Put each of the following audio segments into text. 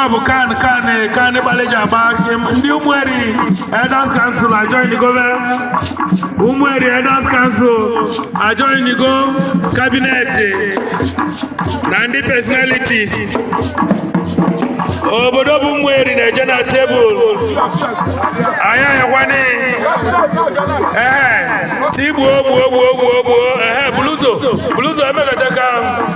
ọ bụ kan kan kan gbalịji agba ndị ụmụeri elders council ajoinigo ụmụeri elders council ajoinigo cabinet na ndị personalities obodo bụ ụmụeri na-eje na tebụl anyị ayakwana ee si gbuo gbuo gbuo gbuo gbuo ee buluzo buluzo emekọta ka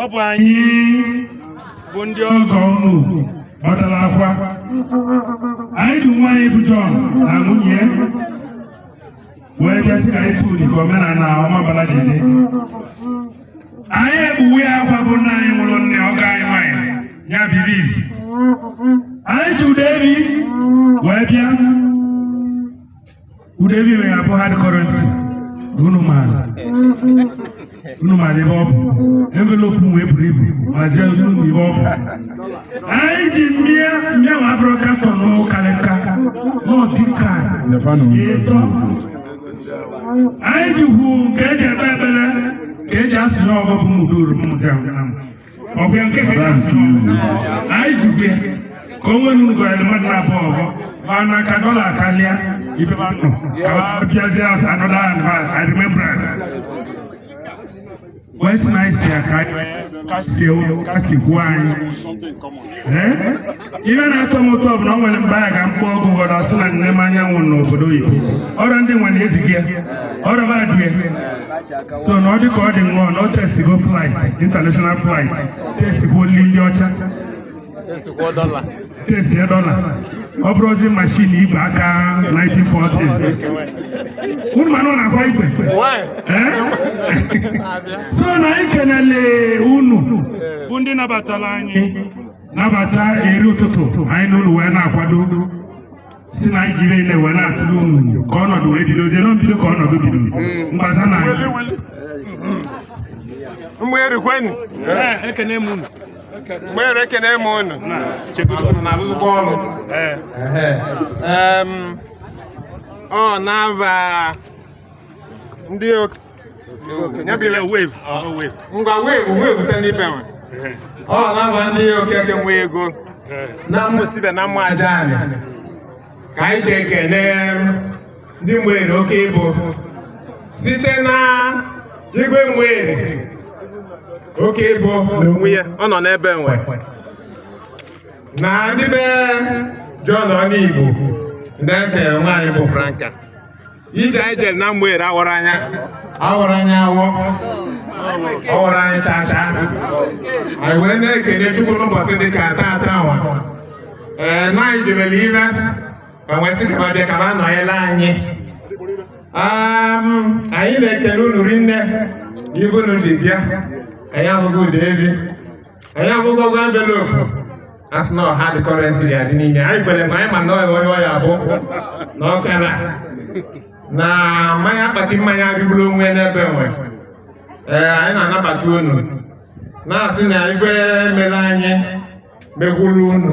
ọ bụ anyị bụ ndị ọgọ unu gbatara akwa anyị du nwa anyị bụ John na nwunye ya wee bịa sị ka anyị tụrụ dịka omenala Ọmabala ji dị anyị ekpuwe akwa bụ nna anyị nwụrụ nne ọgọ anyị nwanyị ya bibi isi anyị tụrụ eri wee bịa Udeli na ya bụ hard currency unu maara unu maara ebe ọ bụ envelope wee buru ibu mazie unu ebe ọ bụ anyị ji mmịa mmịa nwa abụrụ carton n'ụkarịka n'ọdịka Nepanụ m. ịtọ anyị ji hot nke eji ekpe ekpere ka eji asụsụ ọgụ bụ mụdoro mụzi ahụ na m ọ bụ ya nke ka ya sị anyị jide ka o nwere ugwu anyị mmadụ na-abụ ọgọ mana ka dọla karịa ibe ma nọ ka ma bịazie as another advance and remembrance wee sị na anyị si ya ka anyị ka si ewu ka si kwuo anyị Eh? ihe na-atọ m ụtọ bụ na ọ nwere mgbe a ga mkpọ ọgwụ gwara ọ sị na nne m anyanwụ n'obodo oyibo ọrịa ndị nwere ezighị ya ọrịa badue so na ọ dị ka ọ dị nwe na o tesigo flight international flight tesigo nri ndị ọcha tesi dọla ọ bụrọzi machine igwe aka 1914 unu ma na ọ na-akwa igwe Eh? so na anyị kenele unu bụ ndị nabatara anyị nabata eri ụtụtụ anyị na unu wee na-akwado si na anyị jiri ile wee na-atụrụ unu ka ọnọdụ wee bidozie na mbido ka ọnọdụ bido mgbasa na anyị ụmụeri kwenụ ekene m unu ụmụeri ekene m unu n'azụzụkwa ọrụ Em, ọ na-aba ndị ngwa wevu wevute n'ebe nwe ọ na-aba ndị okeke nwe ego na mmụsibe na mma aja anyị ka anyị ji ekene ndị ụmụeri Okebo site na igwe ụmụeri Okebo n'onwe ya ọ nọ n'ebe nwe na ndị be John Ọnigbo ndị ekere nwa anyị bụ Franka ije anyị jere na mgbere awara anya awara anya awọ ọwara anyị chacha anyị wee na-ekele chukwu n'ụbọchị dị ka taata nwa ee na anyị jebere ire ma wee sị kaba bịa kaba anọnyela anyị Am, anyị na-ekele unu rinne n'ibu unu ji bịa anyị afụgo ada efi anyị afụgokwa envelopu a sị na ọ hard currency dị n'ime anyị kwere ma anyị ma na onye ọya bụ na ọkara na mmanya akpati mmanya adịgburu onwe n'ebe nwe ee anyị na-anabata unu na-asị na ife e mere anyị mekwuru unu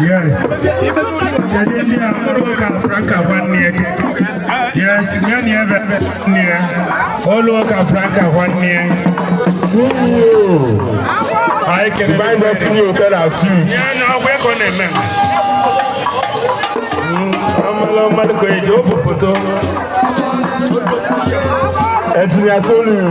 Yes. Jadi ni amuru ka franka wani eke. Yes, ni ni ebe ni e. Olu ka franka wani e. CEO. Ayi kene. Divine Destiny Hotel and Suites. Ni na ọgbẹ kọ na eme. Ọmọlọ mmadụ ka eji o bụ foto. Engineer Soludo.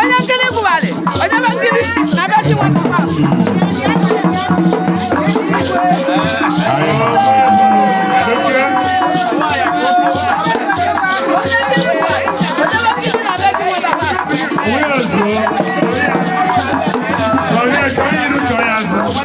onye nkiri gụgharị onye be nkiri na be chi nwata nwa